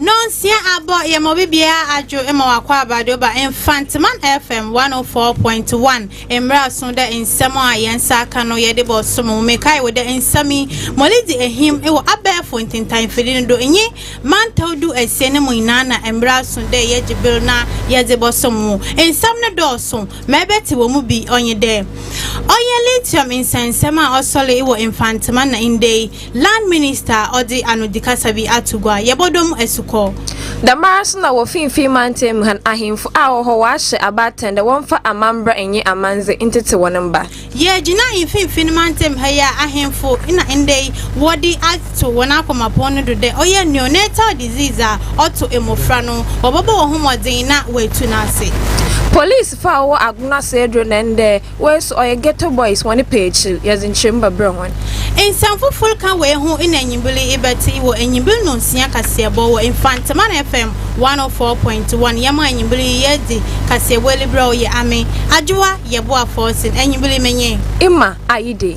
Nonsia abɔ yɛ ma obi biara adwo ma wakɔ abade oba Mfanteman FM 104.1 mmra so dɛ nsɛm a yɛn nsa aka no yɛde bɔ so mu mekae wo dɛ nsɛm yi molidi ehim wɔ abɛɛfo ntintan mfidi no do nye mantaw du asia no mu nyinaa na mmra so dɛ yɛgye ber na yɛdze bɔ so mu nsɛm no dɔɔ so ma ebɛtse wɔ mu bi ɔnye dɛ ɔyɛ lithium nsɛnsɛm a ɔsɔree wɔ Mfanteman na ndɛ yi Land Minister ɔdze anodikasa bi ato gua, Yɛbɔdɔ mu asukɔ. Dɛmara so na wɔ finimfin mantam mu ha no, ahemfo a wɔwɔ hɔ wɔahyɛ abaatan dɛ wɔmfa amambra nye amandze ntsetse hɔn mba. Yɛgyina mfinimfin mantam ha yi a ahemfo na ndɛ yi wɔdze ato hɔn akomapɔn no do dɛ ɔyɛ neonatal disease a ɔto mbofra no, wɔbɔbɔ hɔnho mbɔdzen na woetu no ase. Polisifo a wɔwɔ Agona Sedro na ndɛ Wei so ɔyɛ ghetto boys hɔn pɛ ekyir yɛdze nkyerɛmu bɛbrɛ hɔn. Nsɛm fofor kã wei ho na enyimber yi ibɛtse wɔ Enyimber Ndɔnsia kaseɛbɔ wɔ Mfantseman FM 104.1. Yɛma enyimber yi yɛdze kaseɛbɔ Elibrɛ o yɛ ame, Adwowa yɛ boa fɔɔsen, enyimber yi menye. Emma Ayidei.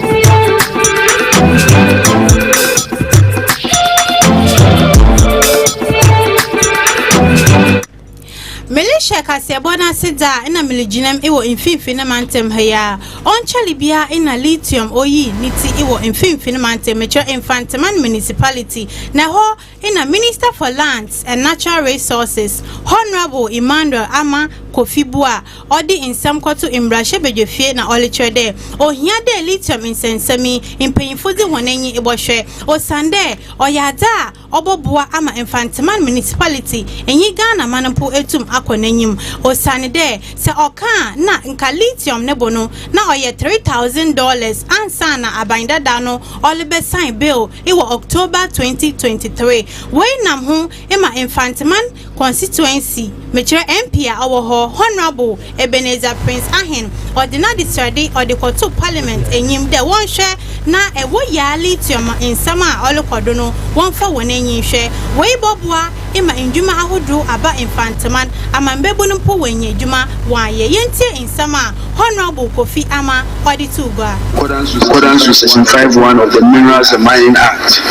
merehyɛ kaseɛbɔ no ase dza a na meregyinam wɔ mfimfini no mantam ha yi a ɔnkyɛre biara na lithium oyi ne ti wɔ mfimfini mantam mekyerɛ mfantema municipality na ɛhɔ Ena Minister for Lands and Natural Resources Honourable Emmanuel Ama Kofi Buah a ɔde nsɛm kɔto mbrahyɛbadwafie na ɔrekyerɛ dɛ ohia dɛ lithium nsɛnsɛm yi mpanyimfo dze hɔn enyi bɔhwɛ osiandɛ ɔyɛ adze a ɔbɔboa ama Mfantsiman Municipality nye Ghanaman mpo etum akɔ n'enyim osiandɛ sɛ ɔkã a nna nka lithium no bo no na ɔyɛ three thousand dollars ansaana Aban Dada no ɔrebɛsign bill wɔ October 2023. Wei nam ho ma Mfanteman Constituency, mekyerɛ MP a ɔwɔ hɔ, Honourable Ebenezer Prince Ahen, ɔde n'adesrɛde ɔde kɔtoo Parliament enyim dɛ wɔnhwɛ na wɔ Yaa Lithium nsɛm a ɔrokɔ do no wɔmfa hɔn enyi nhwɛ. Wei bɔboa. ema ndwuma ahodow aba Mfantseman amambabun mpo woenya edwuma wɔayɛ. Yentsie nsɛm a Honourable Kofi Ama ɔdze too gua. Accordance to Section 5 1 of the Minerals and Mining Act,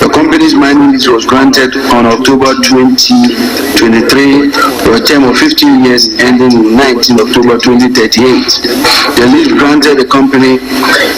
the company's mining lease was granted on October 2023 for a term of 15 years ending in 19 October 2038. The lease granted the company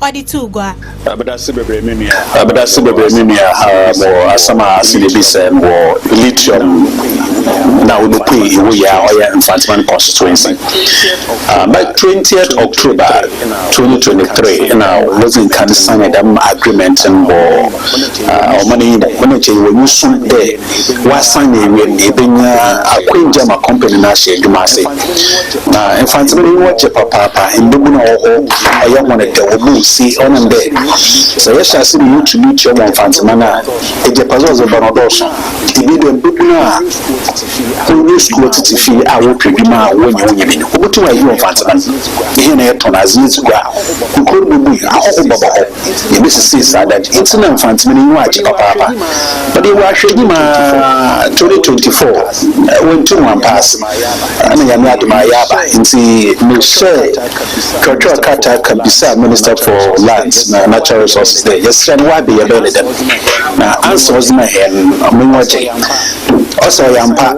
ɔde too gua. Abdase bebree me nua. Abdase bebree me nua haa mo wɔ asɛm a ase na ebi sɛɛ no wɔ Lithium na Onupui ewo yɛ a ɔyɛ Mfantsiman constituency aa bɛ twentieth October twenty twenty three nna wodzi nkan signed dɛm agreement no wɔ ɔman yi mu. Mo ne nkyɛ yɛwɔ nyusu dɛ. wɔasan na ewiam no yebenya akwangya ma kɔmpani no ahyɛ edwuma ase. Na Mfantsebɛn nye hɔn gye papaapa, mbabun a wɔwɔ hɔ ɔyɛ hɔn dɛw, wɔbɔ ose ɔnam dɛ sɛ yɛhyɛ ase ma yetu nutrient wɔ Mfantseman a, egyapadze a ɔdze ba no dɔɔ sõ. Bi dɛ mbabun a wonnyi skuul wɔtsetse fie a wɔrepɛ edwuma a wonnya wonnya bi no, wobotum ayew Mfantseman. Hɛn a yɛtɔn adze, yedzi gua a, nkurow no bobue, ahɔho bɛba hɔ. yebesisii saa da no ntsi na Mfantse me n'enyiwa agye papaapa. But yɛwɔ ahwɛnyi ma 2024, oenntum ɔammpass na Nyame adom a ɔayɛ aba ntsi mehyɛɛ kyerɛwkyerɛw krataa ka bisaa Minister for Lands na Natural Resources dɛ yɛserɛ no why beyɛbɛyɛ no dɛm na answer a ɔdze maa hɛn no m'enyiwa gyee. Ɔse ɔyɛ ampa,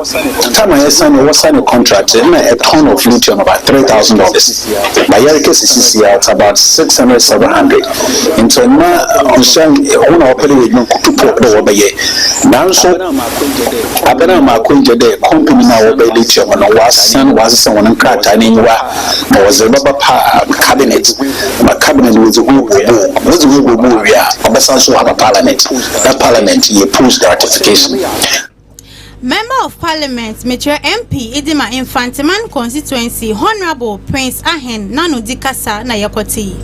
time a yɛsanee wɔsanee contract no nna a tonne of lithium about three thousand dollars. na yɛrekɛ sisi sia it's about six hundred seven hundred nti ɔma ɔhyɛn ɔmo na wɔpɛ dɛ yɛ adwuma kutu pɔ dɛ wɔbɛyɛ nanso abɛ no ama akwangyɛ dɛ company no a wɔbɛyɛ de atua mu no wɔasan wɔasesa wɔn nkrataa n'enyiwa na wɔdze bɛba pa cabinet ma cabinet no wɔdze hu wɔ mu wɔdze hu wɔ mu wie a ɔbɛsan so aba parliament na parliament yɛ post ratification. Member of Parliament, mekyerɛ MP Idima Mfanteman constituency, Honourable Prince Ahen Nanodi kasa na yɛkɔte yi.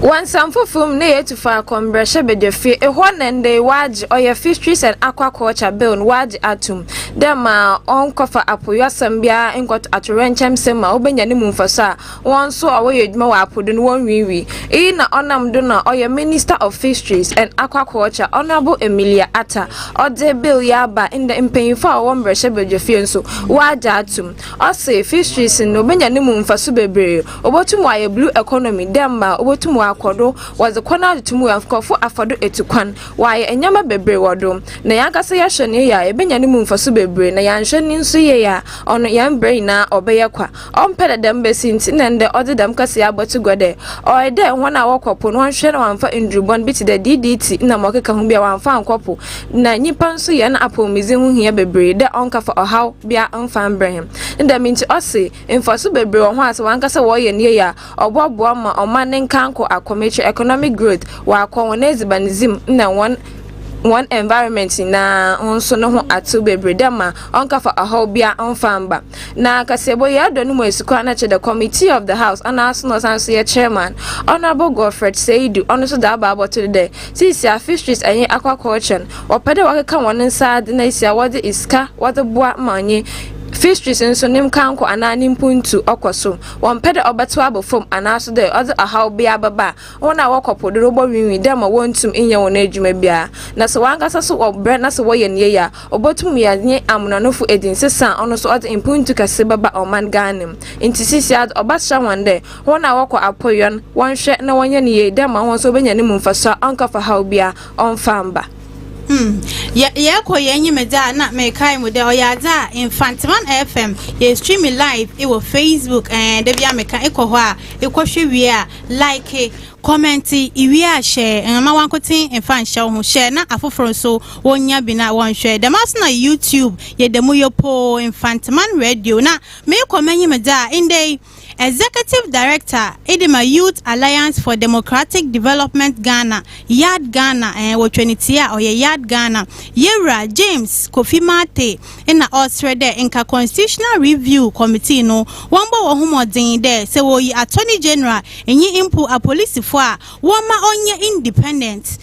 Wɔ nsɛm foforo mu, na yɛatu faako mmrahyɛbadwafie, ehɔ na ndɛ yi wɔagye ɔyɛ Fisheries and Aquaculture Bill no wɔagye atom dɛ ma ɔnnkɔfa apoyɔasɛm biara nnkɔto atoyerɛnkyɛmsɛm mu a wobenya no mu mfaso a Hɔn so a wɔyɛ edwuma wɔ apo do no wonnwiinwii. Iyi na ɔnam do na ɔyɛ Minister of Fisheries and Aquaculture, Honourable Emilia Atta, ɔdze Bill yi aba ndɛ mpanyimfo a wɔwɔ mbrahyɛbadwafie so wɔagye ato mu. Ɔse Fisheries no obenya no mu mfaso beberee, obotum ɔayɛ Blue Economy dɛ mbrɛ obotum ɔakɔ do, wɔdze kwan adoto mu a nkorɔfo afa do etu kwan, wɔayɛ ndzɛmba beberee wɔ do. Na hɛnankasa yɛhwɛ no yie a yebenya no mu mfaso beberee na yɛannhwɛ no so yie a ɔno hɛn bra nyina ɔbɛyɛ kwa. Ɔmmpɛ dɛ dɛm besi ntsi na ndɛ ɔdze dɛm kasa yi abɔto gua dɛ, Ɔyɛ dɛ hɔn a wɔkɔ po no wɔnhwehwɛ na wɔammfa ndur bɔn bi tse dɛ DDT na ma ɔkeka ho bi a wɔammfa annkɔ po, na nyimpa so hɛn apɔwmudzen ho hia beberee dɛ ɔnnkafa ɔhaw biara mmfa mbrɛ hɛn. Ne dɛm ntsi ɔse, mfaso beberee wɔ ho a sɛ hɔn ankasa wɔyɛ no yie a, ɔbɔboa ma ɔman ne nkaanko akɔ m'ekyir, economic growth, wɔakɔ hɔn edziban dzi mu na hɔn hɔn environment nyina ho so no ho atsew beberee dɛ ma ɔnnkafa ɔhaw biara mmfa mmba. Na Kaseɛbɔ yi adɔ no mu asukwa no kyerɛ dɛ Committee of the House anaa so na ɔsan nso yɛ Chairman, Honourable Godfred Seidu, ɔno nso dze aba abɔto do dɛ seisiara Fisheries nye Aquaculture no wɔpɛ dɛ wɔkeka hɔn nsa adze na esi a wɔdze esika wɔdze boa ma ɔnye Fisheries nso ne nkankɔ anaa ne mpontu ɔkɔ so, wɔmmpɛ dɛ ɔbɛtsew aba famu anaa so dɛ ɔdze ɔhaw biara bɛba a Hɔn a wɔkɔ po do no wɔbɔnweenwen dɛ ma wonntum nnyɛ hɔn edwuma biara, na sɛ hɔnankasa so wɔbrɛ na sɛ wɔyɛ no yie a, obotum yɛ nye amonanofo edzinsesa a ɔno so ɔdze mpontu kɛse bɛba ɔman Ghana mu. Ntsi seseiara ɔbɛsera hɔn dɛ hɔn a wɔkɔ apoyɔ no wɔnhwɛ na wɔnyɛ no yie dɛ ma hɔn so wobenya no mu mfaso a ɔnnkɛfa haw biara ɔmmfa mmba. Hmm. Yɛ yɛkɔ yɛn nyimedze a nna mekae mu dɛ ɔyɛ adze a Mfantseman FM yɛ streaming live wɔ Facebook ɛɛn dabia meka ekɔ hɔ a ekɔhwɛ wie a Like, kɔmɛnte, iwie a hyɛ mma wankoten mfa nhyɛ wo ho, hyɛ na afoforo nso wɔnya bi na wɔnhwɛ. Dɛm ara nso na YouTube yɛ dɛ mu yopoo, Mfantseman Radio na merekɔ m'enyim dze a, ndɛ yi Executive Director de ma Youth Alliance for Democratic Development Ghana, YADG Ghana, wɔtwa ne tsia a ɔyɛ YADG Ghana, Yewura James Kofi Martey, nna ɔreserɛ dɛ nka Constitutional Review Committee no wɔmbɔ hɔnho mbɔdzen dɛ sɛ woyi Attorney General nye mpo apolisifo a wɔmma ɔnyɛ independent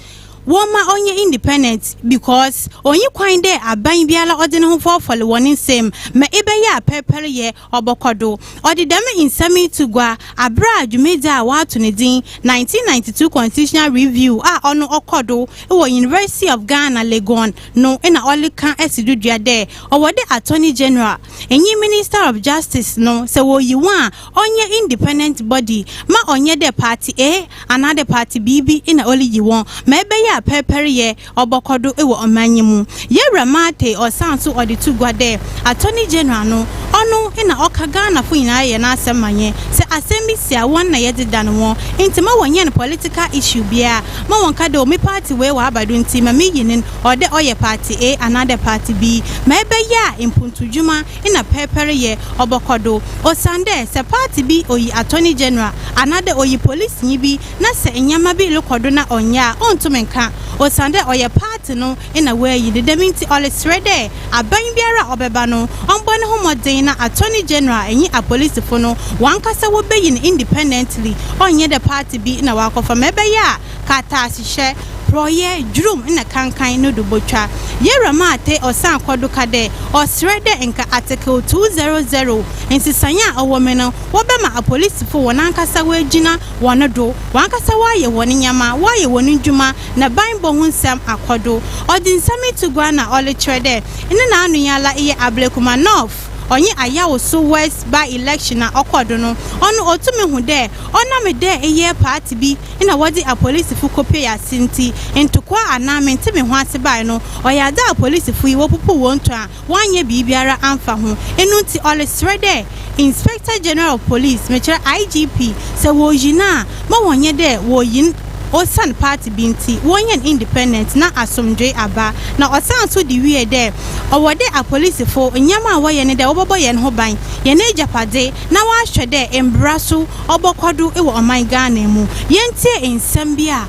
wɔmma ɔnyɛ independent because onnyi kwan dɛ aban biara ɔdze noho fɔrfɔr hɔn nsamu ma ebɛyɛ a pɛrpɛryɛ Ɔbɔkɔ do ɔdze dɛm nsɛm yi to gua aber a dwumadzi a wɔato no dzin Nineteen Ninety Two Constitutional Review a ɔno ɔkɔ do wɔ University of Ghana, Legon no na ɔreka si do dua dɛ ɔwɔ dɛ Attorney General, nye Minister of Justice no sɛ woyi hɔn a ɔnnyɛ independent body ma ɔnnyɛ dɛ party A anaa dɛ party B bi na oriyi hɔn ma ebɛyɛ a pɛrpɛryɛ Ɔbɔkɔ do wɔ ɔman yi mu. Yewura Martey ɔsan so ɔde to gua dɛ, Attorney General no, ɔno na ɔka Ghanafo nyinara yɛ n'asɛm ma hɛn. Sɛ asɛm bi si a, hɔn na yɛdze dan hɔn. Ntsi ma wɔnyɛn political issue biara. Ma wɔnnka dɛ, oh, me party wei ɔaba do ntsi ma miyi no no, ɔwɔ dɛ ɔyɛ party A anaadɛ party B. Ma ebɛyɛ a mpontudwuma na pɛrpɛr yɛ ɔbɔkɔ do. Osiandɛ sɛ party bi oyi Attorney General anaadɛ oyi policenyi bi na sɛ ndzɛmba bi rokɔ do na ɔnnyɛ a, onntum nnkã osiandɛ ɔyɛ party no na woeyi no. Dɛm ntsi ɔreserɛ dɛ aban biara a ɔbɛba no, ɔmbɔ noho mbɔdzen na Attorney General nye apolisifo no hɔnankasa wobeyi no independently, ɔnnyɛ dɛ party bi na ɔakɔfa, ma ɛbɛyɛ a kaataahyehyɛ, porɔwyɛ, dwurum na kankan no do botwa. Yewura Maathe ɔsan kɔ do ka dɛ ɔserɛ dɛ nka Article two zero zero nsesae a ɔwɔ mu no wɔbɛma apolisifo hɔnankasa woegyina wɔn do, wankasa wɔayɛ wɔn nyɛma, wɔayɛ wɔn ndwuma, na banbɔ ho nsɛm akɔ do. Ɔdze nsɛm yi to gua na ɔrekyerɛ dɛ nna n'anoyɛala eyɛ Ablekuma North, ɔnye Ayawoso West by-election a ɔkɔr do no, ɔno otum hu dɛ ɔnam dɛ eyɛ party bi na wɔdze apolisifo kopuei ase ntsi, ntokwaa anaa mente-me-ho-ase bae no, ɔyɛ adze a apolisifo yi wopupuw hɔn tun a wɔannyɛ biribiara amfa ho, eno ntsi ɔreserɛ dɛ Inspector General of Police, mekyerɛ IGP, sɛ wɔreyi no a, ma wɔnyɛ dɛ wɔreyi no osian party bi ntsi, wɔnyɛ no independent na asomdwee aba. Na ɔsaan so dze wiee dɛ, Ɔwɔ dɛ apolisifo nnyɛma a wɔyɛ nye dɛ wɔbɔbɔ hɛn ho ban, hɛn egyapadze, na wɔahwɛ dɛ mbra so ɔbɔkɔ do wɔ ɔman Ghana mu. Yentsie nsɛm bi a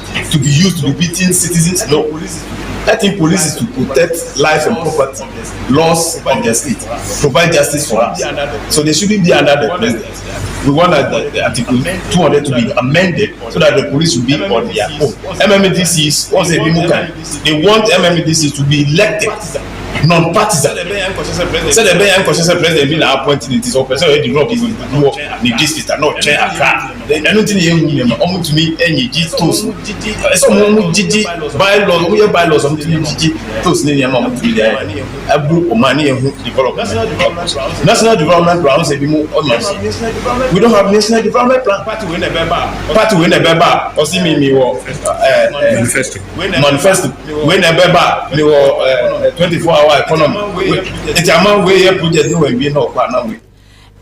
to be used to be beating citizens no letting police to protect lives and property laws of the state provide justice for us so they shouldn't be under the president we want that the, the article 200 to be amended so that the police will be on their own mmdcs wɔn sɛ ebi mu kan they want mmdc to be elected non partisan sɛdeɛ ɛbɛyɛ nkɔhyɛ sɛ president bi na appoint ne ti sɛ ɔpɛ sɛ ɔyɛ develop wɔ ne district a na ɔkyɛn akra ɛno nti na yɛhu nneɛma wɔtumi nyigye tos ɛsɛ wɔn wɔn gyigye bylaws wɔn yɛ bylaws wɔn tumi gyigye tos ne nneɛma wɔn tumi de ayɛ ɛbu wɔn a ne yɛn ho development national development plan sɛ bi mu ɔma we don't have national development plan party wei na ɛbɛba party wei na ɛbɛba ɔsi mi mi wɔ ɛɛ manifesto manifesto wei na ɛbɛba mi wɔ ɛɛ twenty four hour economy eti ama wei yɛ project ne wɔn wie na ɔkɔ anam wei.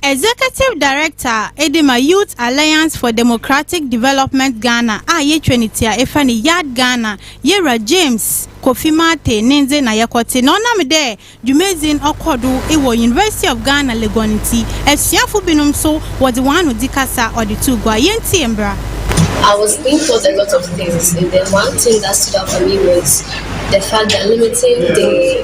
Executive Director a edi ma Youth Alliance for Democratic Development Ghana a yetwa ne ti a efa ne Yard Ghana, Yewura James Kofi Martey ne ndze na yɛkɔtse na ɔnam dɛ dwumadzi no ɔkɔ do wɔ University of Ghana Legon ntsi, esuafo binom so wɔdze hɔn ano dzi kasa ɔdze too gua. Yentsie mbra. I was being taught a lot of things and then one thing that stood out for me was the fact that limiting the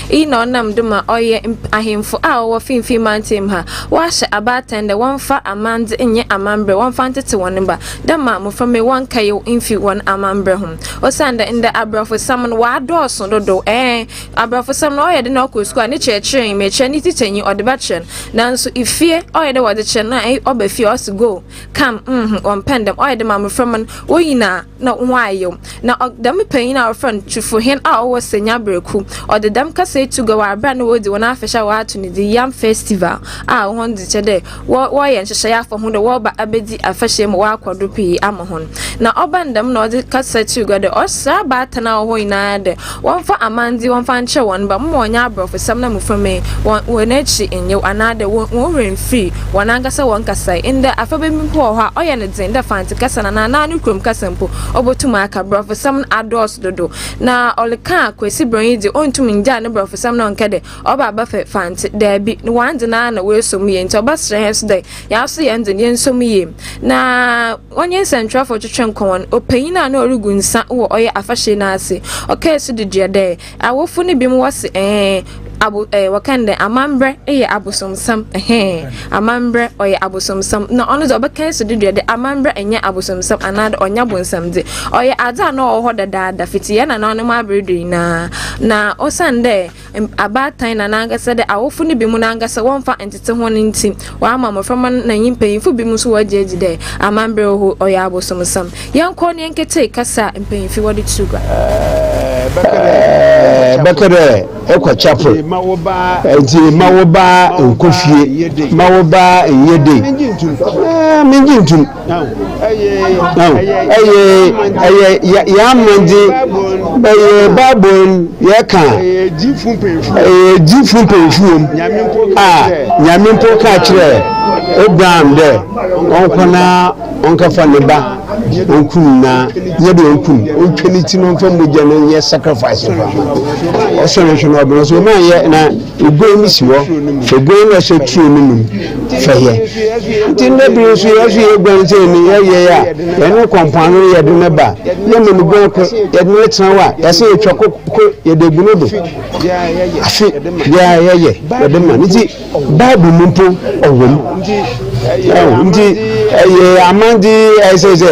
Iyi na ɔnam do ma ɔyɛ mp ahemfo a wɔwɔ finimfin mantam ha, wɔahyɛ abaatan dɛ wɔmfa amandze nyɛ amamber, wɔmfa ntsetse hɔn mba, dɛ ma mboframba yi wɔnnkɛyew mmfi hɔn amamber ho. Osiandɛ ndɛ aborɔfosɛm no ɔadɔɔ sõ dodow, ɛɛ, aborɔfosɛm no ɔyɛ dɛ na ɔkɔ skuul a ne kyerɛkyerɛnyi, merekyerɛ ne tsikyanyi, ɔdze bɛkyerɛ no, naaso fie, ɔyɛ dɛ wɔdze kyerɛ no a, ɔba fie a ɔse go! Kam, mm-hmm, wɔmpɛ ndɛm. Ɔyɛ dɛ ma mbofra man wo nyina na wɔayew. Na ɔ dɛm panyin a wɔfrɛ no Tufohen a ɔwɔ Senya Breku, ɔdze dɛm kasa yi too gua wɔ aber a nna woridzi hɔn afahyɛ a wɔato no dzin Yam Festival a hɔn dze kyerɛ dɛ wɔ wɔreyɛ nhyehyɛɛ afa ho dɛ wɔreba abedzi afahyɛ yi ma wɔakɔ do pii ama hɔn. Na ɔbaa no dɛm na ɔdze kasa too gua dɛ ɔsera abaatan a ɔwɔ hɔ nyina dɛ Wɔmfa amandze wɔmfa nkyerɛ hɔn mba, momma wɔnnyɛ aborɔfosɛm na muframa yi, hɔn hɔn ekyir nnyew, anaadɛ hɔn hɔn werɛ mmfir hɔnankasa hɔn kasae. Ndɛ, afɛba bi mpo wɔ hɔ a, ɔyɛ no dzen dɛ Fantse kasa no anaa n'ano kurom kasa mpo, obotum aka. Borɔfosɛm no adɔɔ so dodow, na ɔreka a, Kwesi Brɔn yi dze, onntum nngyaa ne borɔfosɛm na ɔnnkɛ dɛ, Ɔba abɛfɛ Fantse. Dabi, no wɔandze no ara na oeeso mu yie, ntsi ɔbɛserɛ hɛn so dɛ, hɛn so yɛndze no, yɛnsɔ mu yie, na, Wɔnye nsɛnkyerɛwfo twetwe nkɔmbɔ no, ɔpanyin a nna orugu nsã wɔ ɔyɛ afahyɛ no ase ɔkãe so dedua dɛ, Awofo no binom wɔ se, Ɛɛ, abo ɛɛ, wɔkã no dɛ, amambrɛ yɛ abosomsɛm, ɛhɛɛ, amambrɛ ɔyɛ abosomsɛm, na ɔno dze ɔbɛkãe so dedua dɛ amambrɛ nnyɛ abosomsɛm anaadɛ ɔnnyɛ abonsam dze, ɔyɛ adze a nna ɔwɔ hɔ dadaada fitsi hɛn nananom aber do nyina, na osiandɛ abaatan na n'ankasa dɛ awofo no binom n'ankasa wɔmmfa nntsetse hɔn no ntsi, wɔama mboframba no na nye mpanyimfo binom so wɔagye edzi dɛ amamber horow ɔyɛ abosomsɛm. Yɛnkɔ na yɛnkɛtsie kasa a mpanyimfo wɔdze to gua. Ebɛka dɛ ekɔ chapel ntsi mma wo ba nnkɔ fie, mma wo ba nnyɛ dei, menngye nntum. Yɛammandze ɛyɛ Bible no yɛka ɛyɛ gyifo mpanyimfo wɔ mu a Nyame mpo ka kyerɛ Abraham dɛ ɔnkɔ na ɔnkɛfa ne ba onkum na nyɛ dɛ onkum ontwa ne ti na ɔmfa mogya no nyɛ sacrifice mfa ma ɔsɔre nhwɛ na ɔbɛn so ɔma yɛ na Oguan no si hɔ, oguan no hyɛ turo no mu fɛyɛ. Nti nnɛ bere nso yɛ so yɛ guan sɛ ni yɛ yɛ a yɛne kɔ mpoano no yɛde no ba yɛ ma no guan kɔ yɛde no tena hɔ a yɛsɛ yɛtwa kɔ kɔ yɛde agu no do afe biara yɛyɛ yɛde ma no nti Bible mu mpo ɔwɔ mu. nti ɛyɛ amande ɛsɛ sɛ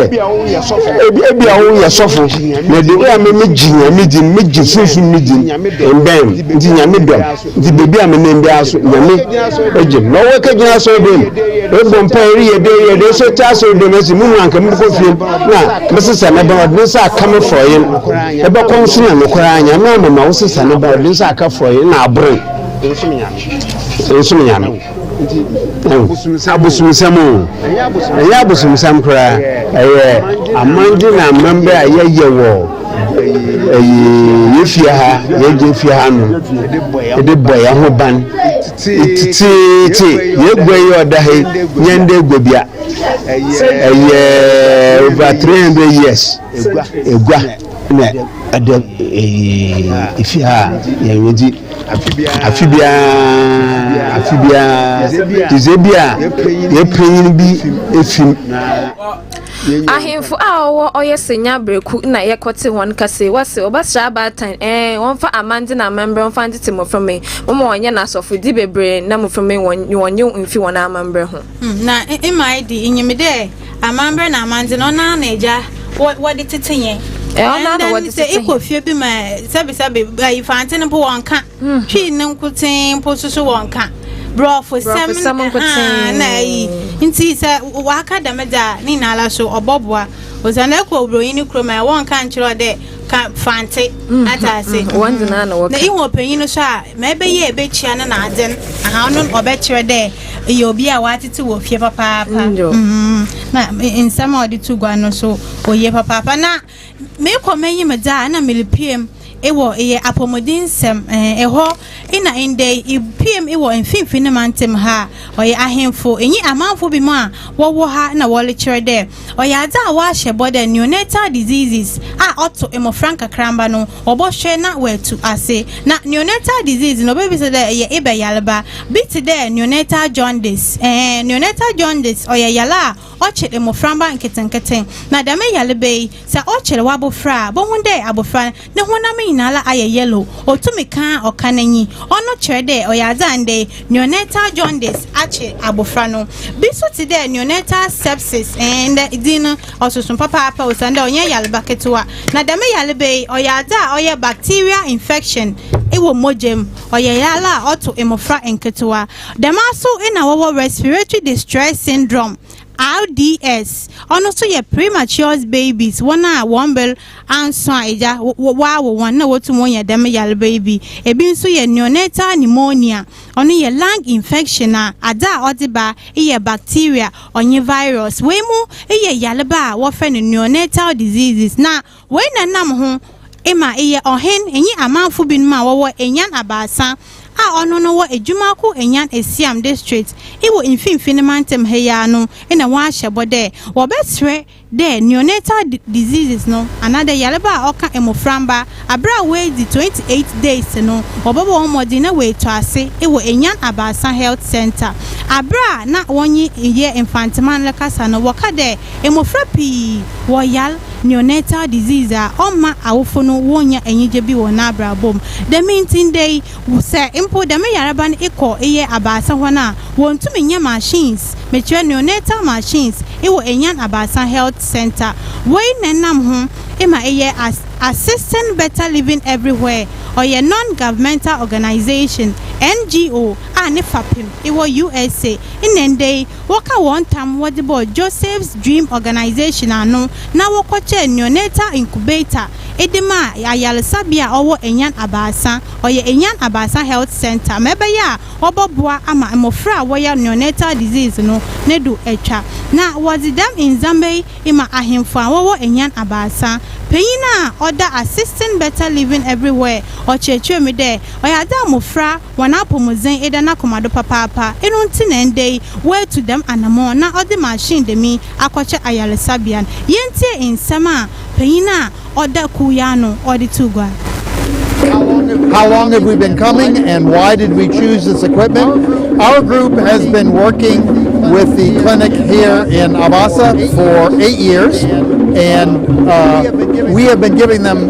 ebi a woyɛ sɔfo na de wo a megye nyame di megye sunsun me di mbɛn nti nyame dɔm nti beebi a menam biara so nyame egye na ɔwɔ kegyina asɔre dɛm ebɔ mpa ereyɛ dɛ yɛ dɛ sɛ te asɔre dɛm ɛsi mu nua nka mekɔ fie na mesesa ne ba ɔde ne nsa aka me frɔye ɛbɛkɔ nso na no koraa nyame amama wo sesa ne ba ɔde ne nsa aka frɔye na aboro nso me nyame nti abosomsɛm abosomsɛm o ɛyɛ abosomsɛm koraa ɛyɛ amande na amammerɛ a yɛyɛ wɔ ɛyi yɛfie ha yɛgye fie ha no ɛde bɔ yɛn ho ban tititi yɛgua yi ɔda ha nyɛn dɛ gua bia ɛyɛ over 300 years ɛgua na ɛda fie ha a yɛdzi afe biara afe biara dze bi a yɛpanyin bi efi mu. Ahemfo a wɔwɔ Ɔyɛsenya Bereku na yɛkɔtse hɔn kase, wɔse, Wɔbɛsera abaatan, ɛɛ, wɔmfa amandze na amamber mfa ntsetse mboframba, wɔma wɔnyɛ no asɔfodzi beberee na mboframba nye wɔn nye mfi hɔn amamber ho. Na mma edi, inyim dɛ. amambrɛ na amandze no ɔno ara na egya wɔde tete yɛn ɔno ara wɔde tete yɛn ekɔ fie bi ma sɛbisɛbi ayi fante no po wɔn ka hmm. twii ne nkotee po soso wɔn ka brɔfo sɛm nkotee na ayi nti sɛ waka dɛm dza ne nyinaa so ɔbɔboa ɔsan ekɔ obroni ne kurom a wɔn ka nkyerɛ ɔdɛ. ka fante mm-hmm. atase mm-hmm. wɔn de naa na wɔka na ihu ɔpanyin no so a ma ɛbɛyɛ ɛbɛkyia no na adze no aha no ɔbɛkyerɛ dɛ ɛyɛ obi a wɔatete wɔ fie papaapa mm-hmm. na nsɛm a ɔde to gua no so ɔyie papaapa na meekɔ m'ayi me dza a na melepiem ɛwɔ ɛyɛ apɔmuden nsɛm ɛhɔ ɛna ndɛ epiem ɛwɔ mfimfini mantam ha ɔyɛ ahemfo ɛnyi amanfo bi mu a wɔwɔ ha na wɔrekyerɛ dɛ Ɔyɛ adze a wɔahyɛ bɔ dɛ neonatal diseases a ɔto mbofra nkakramba no wɔbɔhwɛ na woetu ase. Na neonatal disease no obebisa dɛ eyɛ ebɛ yarba, bi tse dɛ neonatal jaundice. Eeh, neonatal jaundice ɔyɛ yar a ɔkyer mboframba nketsenketse. Na dɛm yarba yi, sɛ ɔkyer w'abofra a, bohu dɛ abofra no honam nyinara ayɛ yellow, otum kã a ɔkã n'enyi. Ɔno kyerɛ dɛ ɔyɛ adze a ndɛ neonatal jaundice akye abofra no. Bi so tse dɛ neonatal sepsis, eeh, ndɛ dzin no ɔsoso papaapa osiandɛ ɔnnyɛ yarba ketsewa. Na dɛm yarba yi, ɔyɛ adze a ɔyɛ bacterial infection wɔ mogya mu, ɔyɛ yar a ɔto mbofra nketsewa. Dɛmara so na wɔwɔ respiratory distress syndrome, RDS, ɔno so yɛ premature's babies, hɔn a hɔn ber Anso a, Agya, wo, woawo wɔn na wotum wɔn yɛ dɛm yarba yi bi. Bi so yɛ neonatal pneumonia, ɔno yɛ lung infection a adze a ɔdze ba yɛ bacteria ɔnye virus. Wei mu yɛ yarba a wɔfrɛ no neonatal diseases, na wei na nam ho ma eyɛ ɔhen nye amamfo binom a wɔwɔ Enyan Abaasa, a ɔno no wɔ Ejumaku Enyan Esiam District wɔ mfinfin mantam ha yi ara no na wɔahyɛ bɔ dɛ wɔbɛserɛ dɛ neonatal diseases no anaadɛ yarba a ɔka mboframba aber a woedzi twenty eight days no, wɔbɔbɔ hɔn mbɔdzen na woetu ase wɔ Enyan Abaasa Health Centre. Aber a nna wɔnye yɛ Mfantseman rekasa no, wɔka dɛ mbofra pii wɔyar neonatal disease a ɔmma awofo no wonnya enyigye bi wɔ hɔn abrabɔ mu. Dɛm ntsi ndɛ yi, Sɛ mpo dɛm yarba no ekɔ eyɛ abaasa hɔn a, wonntum nnyɛ machines, mekyerɛ neonatal machines, ewɔ Enyan Abaasa Health Centre. Wei na enam ho ema eyɛ as Assisting Better Living Everywhere, ɔyɛ non-governmental organisation, NGO, a ne fapem ewɔ USA. Nna ndɛ yi, wɔkã hɔn tam wɔdze bɔɔ Joseph's Dream Organisation ano na wɔkɔkyɛɛ neonatal incubator de maa ayaresabea a ɔwɔ Anyan Abaasa, ɔyɛ Anyan Abaasa Health Centre, ma ɛbɛyɛ a wɔbɔboa ama mbofra a wɔyɛ neonatal disease no ne do etwa. Na wɔdze dɛm ndzɛmba yi ma ahemfo a wɔwɔ Anyan Abaasa. Panyin a ɔda Assisting Better Living Everywhere ɔkyerɛkyerɛɛ mu dɛ, Ɔyɛ adze a mbofra Hɔn apɔwmudzen eda n'akoma do papaapa, eno ntsi na ndɛ yi oetu dɛm anamɔn na ɔdze machine dɛm yi akɔkyɛ ayarsabea no. Yentsie nsɛm a panyin a ɔda kuw yi ano ɔdze too gua. How long have we been coming and why did we choose this equipment? Our group has been working with the clinic here in Abasa for eight years and uh, we have been giving them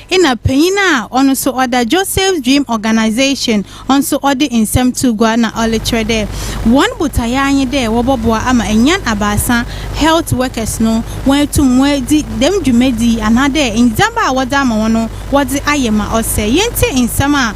Nna panyin a ɔno so ɔda Joseph's Dream Organisation so ɔdze nsɛm too gua na ɔrekyerɛ dɛ hɔn botae ara nye dɛ wɔbɔboa ama enyan abaasa health workers no woeetum woeedzi dɛm dwumadzi yi anaadɛ ndzɛmba a wɔdze ama hɔn no wɔdze ayɛ ma ɔsɛ. Yentsie nsɛm a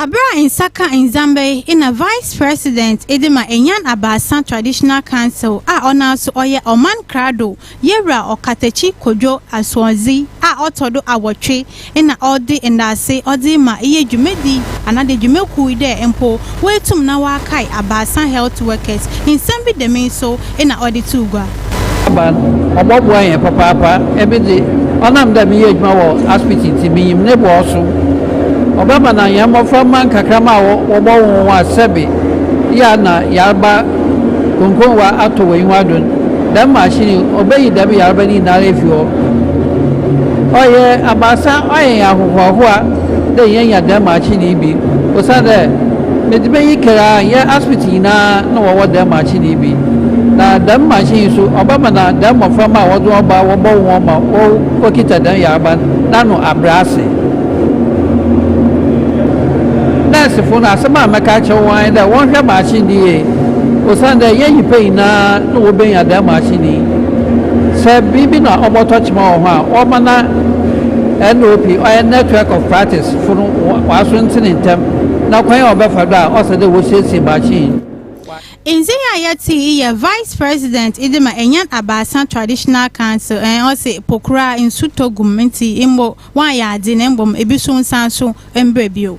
Aber a nsa kã ndzɛmba yi nna Vice President dze ma Enyan Abaasa Traditional Council a ɔnoara so ɔyɛ Ɔman Krado Yewura Ɔkatakyi Kodwo Asoɔdzi a ɔtɔ do awɔtwe na ɔdze ndaase ɔdze rema iyi dwumadzi anadze dwumakuw yi dɛ mpo woetum na wɔakae abaasa health workers. Nsɛm bi dɛm yi so na ɔde too gua. Aban, Ɔbɔboa hɛn papaapa. Emi dze, ɔnam dɛ meyɛ edwuma wɔ aspiti ntsi, minyim ne bo a ɔso. Ɔbɛma na hɛn mboframba nkakramba a wɔbɔwoo hɔn a sɛbe yɛ a na yarba krɔnkrɔnwa atɔ wɔ enyiwa do no, dɛm mahyin yi obeyi dɛm yarba no nyinara efi hɔ. Ɔyɛ abaasa, ɔayɛ hɛn ahohoahoa. dɛ yenya dɛm akyen yi bi, osiandɛ medze bɛyɛ kar ara nnyɛ Aspit nyina na wɔwɔ dɛm akyen yi bi. Na dɛm makyen yi so, ɔbɛma na dɛm mboframba a wɔdze hɔn ba wɔbɔwo hɔn ma wokitsa dɛm yarba no n'ano abrɛ ase. Nɛɛsefo no, asɛm a mɛka akyerɛ hɔn ara nye dɛ wɔnhwɛ makyen no yie, osiandɛ nnyɛ nyimpa nyina na wobenya dɛm makyen yi. Sɛ biribi na ɔbɔtɔ kyema wɔ hɔ a, wɔbɛma na. NOP, ɔyɛ Network of Practice, fo no wɔaso ntsene ntsɛm na kwan a wɔbɛfa do a ɔsɛ dɛ wosiesie baakye yi. Ndze yi a yɛtse yi yɛ Vice President dze ma Enyan Abaasa Traditional Council, ɛn, ɔse, Po koraa nsu tɔ gu mu ntsi mbo wɔannyɛ adze na mbom bi so nnsan so mmbrɛ bio.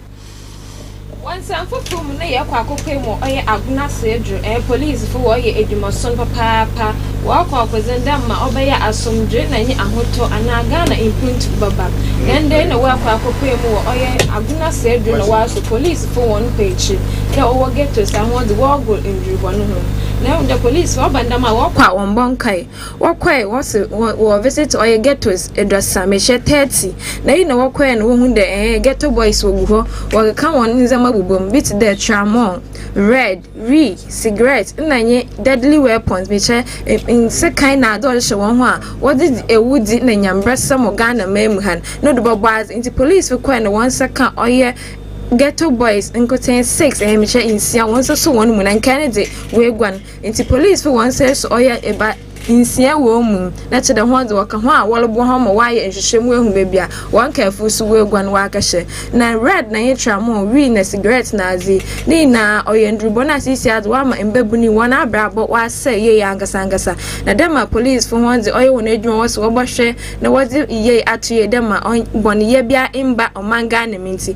Wɔ nsɛm fofor mu no yɛkɔ akɔpue mu ɔyɛ agona so edur eh police fo wɔyɛ edwuma son papaapa wɔkɔ ɔkodzen dɛ ma ɔbɛyɛ asomdwee na nye ahotɔ anaa Ghana mpontu bɛba ndɛndɛn na wɔkɔ akɔpue mu wɔ ɔyɛ agona so edur na wɔaso police fo hɔn kɔ ekyir dɛ ɔwɔ ghettos ahoɔdze wɔgor ndur hɔn ho na ehu dɛ police fo ɔba ndɛm a wɔkɔ a wɔmmbɔ nkae Wɔkɔe hɔ se wɔ wɔ visit ɔyɛ ghettos eduasa mehyɛ thirty na eyi na wɔkɔe no wohu dɛ ɛɛɛ ghetto boys wogu hɔ wɔkeka wɔn ndzɛmba bobɔ mu bi tse dɛ tramol, red, wii, cigarette nna nye deadly weapons mehyɛ nsekan na adze a wɔhyehyɛ hɔn ho a wɔdze dzi ewudzi nna nyambrasɛm wɔ Ghana man mu ha no no do bɔbɔ adze ntsi police fo kɔe na wɔn nsa ka ɔyɛ ghetto boys nkotsee six ɛɛɛ mehyɛ nsia wɔn nsa sɔ hɔn mu na nkae no dze woeguan. Ntsi polisifo hɔn nsɛe so ɔyɛ eba nsia wɔ mu na kyerɛ hɔn dza wɔkã ho a wɔroboa hɔn ma wɔaayɛ nhwehwɛ mu ehu beebi a hɔn kaafo so woeguan wɔakɛhyɛ. Na red na nye tramɔl, wii na sigarɛt na adze, ne nyina ɔyɛ ndur bɔn a seseiara dze wɔama mbabun yi hɔn abrabɔ wɔasɛɛ yie ankasaankasa. Na dɛ ma polisifo hɔn dze ɔyɛ hɔn edwuma wɔse wɔbɔhwɛ na wɔdze yiyee ato yie dɛ ma bɔn yɛ biara mmba ɔman Ghana mu ntsi,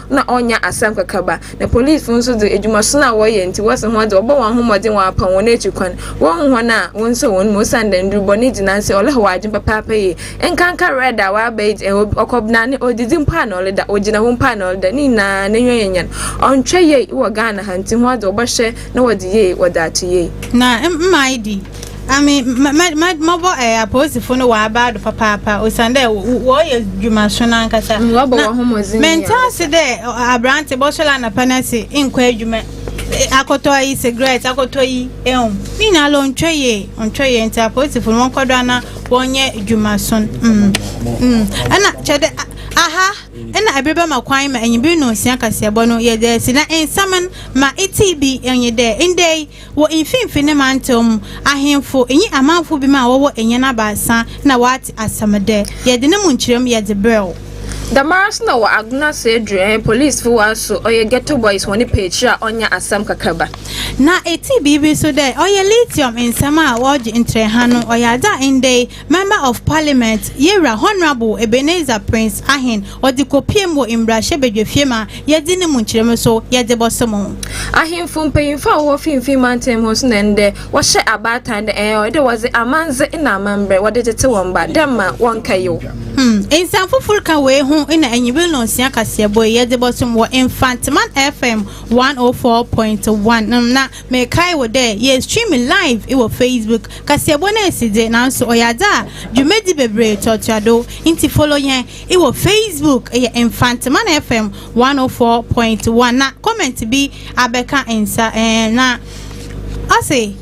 na ɔnnya asɛm kɛkɛ ba. Na polisifo nso dze, edwumason a wɔyɛ ntsi, wɔse hɔn dze, wɔbɔ hɔn ho mbɔdzen wɔapaw hɔn ekyir kwan, wonnhu hɔn a wonnsɔ hɔn mu osiandɛ ndur bɔn yi dzi nanse ɔlehwɛ w'adwen papaapa yie. Nkanka red a ɔaba yi dze, obi ɔkɔbena ne odzidzi mpo a na ɔleda, ogyina hɔ mpo a na ɔleda, ne nyina n'enyiwa yɛ nyan. Ɔnnhwɛ yie wɔ Ghana ha ntsi hɔn dze wɔbɔhwɛ na wɔdze yie wɔdze ato yie. Na mma ayi de, Ami mɔbɔ ɛɛ apolisifo no wɔ abaado papaapa osian dɛ wɔyɛ dwumaso no ankasa. Mm, wɔbɔ wɔn ho mɔdzen. Mɛnta ase dɛ aberante bɔsɔl anapa no ase nkɔ adwuma e, akɔtɔ ayi sigaret akɔtɔ yi ɛho ne nyinaa lɛ ɔntwɛ yie ɔntwɛ yie nti apolisifo no wɔnkɔ do ana wɔnyɛ dwumaso no. Mm, mm. Ɛna kyɛ dɛ aha ɛna ɛbere bɛma kwan ma enyibiri no nsia kaseɛbɔ no yɛ dɛ si na nsɛm no ma iti bi enye dɛ ndɛ yi Wɔ mfinimfini mantam mu, ahemfo nye amamfo bi ma wɔwɔ enyan abaasa na wɔatse asɛm dɛ, Yɛdze no mu nkyerɛmu yɛ dze brɛ wo. Dɛmara so na wɔ Agona Sedre, polisifo wa so ɔyɛ Ghetto Boys hɔn peekyir a ɔnnyɛ asɛm kakraba. Na etsii biribi so dɛ ɔyɛ lithium nsɛm a wɔgye ntrɛwha no, ɔyɛ adze a ndɛ yi Member of Parliament, Yewura Honourable Ebenezer Prince Ahen, ɔde kɔpiem wɔ Mmarahyɛ Badwafie ma yɛadi ne mu nkyerɛmu so yɛde bɔso mo. Ahemfo mpanyimfo a wɔwɔ finimfin mantam hɔ so na ndɛ wɔhyɛ abaatan dɛ ɛɛ ɔyɛ dɛ wɔdze amandze na amamber wɔdze gyetse hɔn ba dɛ mma wɔnnkɛyew. Hmm, nsɛm fofor kã wei ho na enyimber nonsia kaseɛbɔ yi yɛdze bɔsom wɔ Mfantseman FM one oh four point one, hmm, na Mekae wo dɛ yeestream live wɔ Facebook kaseɛbɔ no esi dze, naaso ɔyɛ adze a dwumadzi beberee toatoa do. Ntsi follow hɛn wɔ Facebook, yɛ Mfantseman FM one oh four point one na comment bi abɛka nsa eh. Na ɔse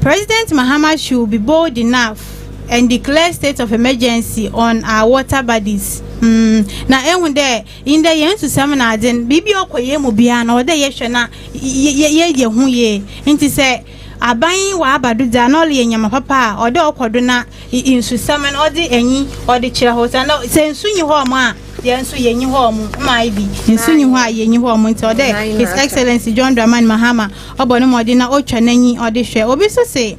President Mahama should be bold enough and declare state of emergency on our water bodies, mm na ehu dɛ. Ndɛ hɛn susɛm na adze no, biribi a ɔkɔ hɛn mu biara no, ɔwɔ dɛ yɛhwɛ na yɛyɛ yɛ ho yie. Ntsi sɛ aban yi ɔaba do dze a, nna ɔreyɛ ndzɛmba papa a, ɔwɔ dɛ ɔkɔ do na nsusɛm no ɔdze enyi ɔdze kyerɛ hɔ. Osiandɛ sɛ nsu nnyi hɔ a, hɛn so yennyi hɔ. Mma ibi nsu nnyi hɔ a yennyi hɔ. Ntsi ɔwɔ dɛ His Excellency John Dramani Mahama ɔbɔ no mbɔdzen na otwa n'enyi ɔdze hwɛ. Obi so se.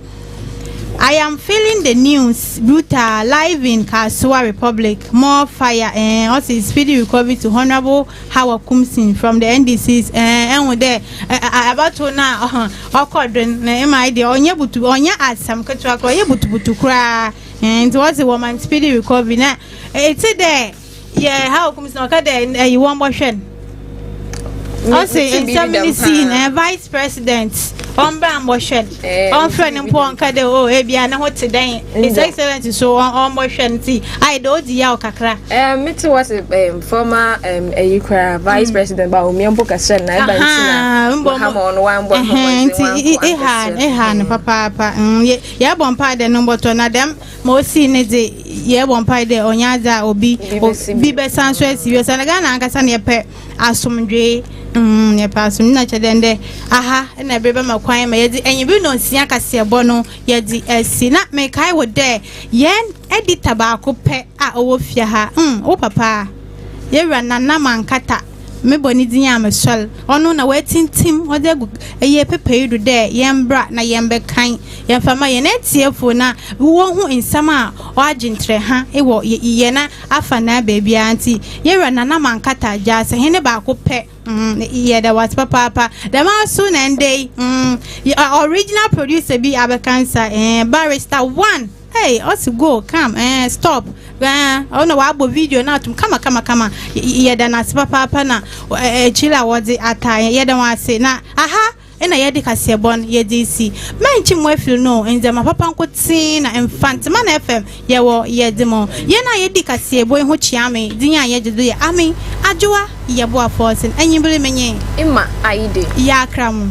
I am feeling the news brutal live in Kasoa Republic more fire eh ɔsi speedy recovery to honourable Hawa Kumsin from the NDCs eh ɛhu dɛ abatow no a ɔkɔ do no na ɛma ayɛ deɛ ɔnyɛ butu ɔnyɛ asɛm ketewa koraa ɔyɛ butubutu koraa eh nti wɔsi wɔma speedy recovery na ɛte dɛ. yɛ how kum sɛ ɔka dɛ ɛyi wɔn bɔhwɛ no ɔsi nsɛm ne sii na eh, vice president ɔmbra mbɔhwɛ no eh, ɔmfrɛ no mpo ɔnka dɛ o oh, ebia eh, ne ho te dɛn his excellent so ɔmbɔhwɛ no ti ayɛ dɛ odi yaw kakra. ɛɛ mi ti wɔ se former ɛyi kura vice mm. president ba omiɛ mpo kɛsɛ na ɛba nti na mahama ɔno wa mbɔ ɛhɔn nti eha eha no papaapa yɛ yɛ bɔ mpa dɛ no mbɔtɔ na dɛm. ma osi ne dze yɛbɔ mpae dɛ ɔnyɛ adze a obi bi bɛsan so asi bi osiandɛ ghana ankasa na yɛpɛ asomdwee mm yɛpɛ asomdwee na kyerɛ dɛ ndɛ aha na ɛbere bɛma kwan ma yɛdze enyibe na nsia kaseɛbɔ no yɛdze asi na mekae wo dɛ yɛn edita baako pɛ a ɔwɔ fie ha mm wo papa yɛwura nana mankata Mebɔ ne dzin a mesoɛr. Ɔno na oetsintsim ɔdze egu eyie pepae do dɛ yɛmbra na yɛmbɛkan, yɛmfa mma hɛn etsiefo na wohu nsɛm a ɔagye ntrɛha wɔ hɛn afanaa beebiara ntsi. Yewura Nana Mankatta Agyasa, hɛn baako pɛ, yɛda wo ase papaapa. Dɛm ara so na ndɛ yi, original producer bi abɛkansa, barrister one. Hey ɔsi go come ɛɛ eh, stop ɛɛ eh, ɔna wabɔ video no atom kama kama kama yɛda no ase papaapa na eh, akyiri a wɔdze ataa yɛn yɛda wɔn ase na aha ɛna yɛde kaseɛ bɔ no yɛde si mɛnkye mu afiri no ndzɛma papa nko tee na mfantema na fm yɛwɔ yɛde mo yɛn a yɛdi kaseɛ bɔ ho kyia me din a yɛgye do yɛ ame adwoa yɛboa fɔɔsen anyibere menye ima ayide yɛakra mu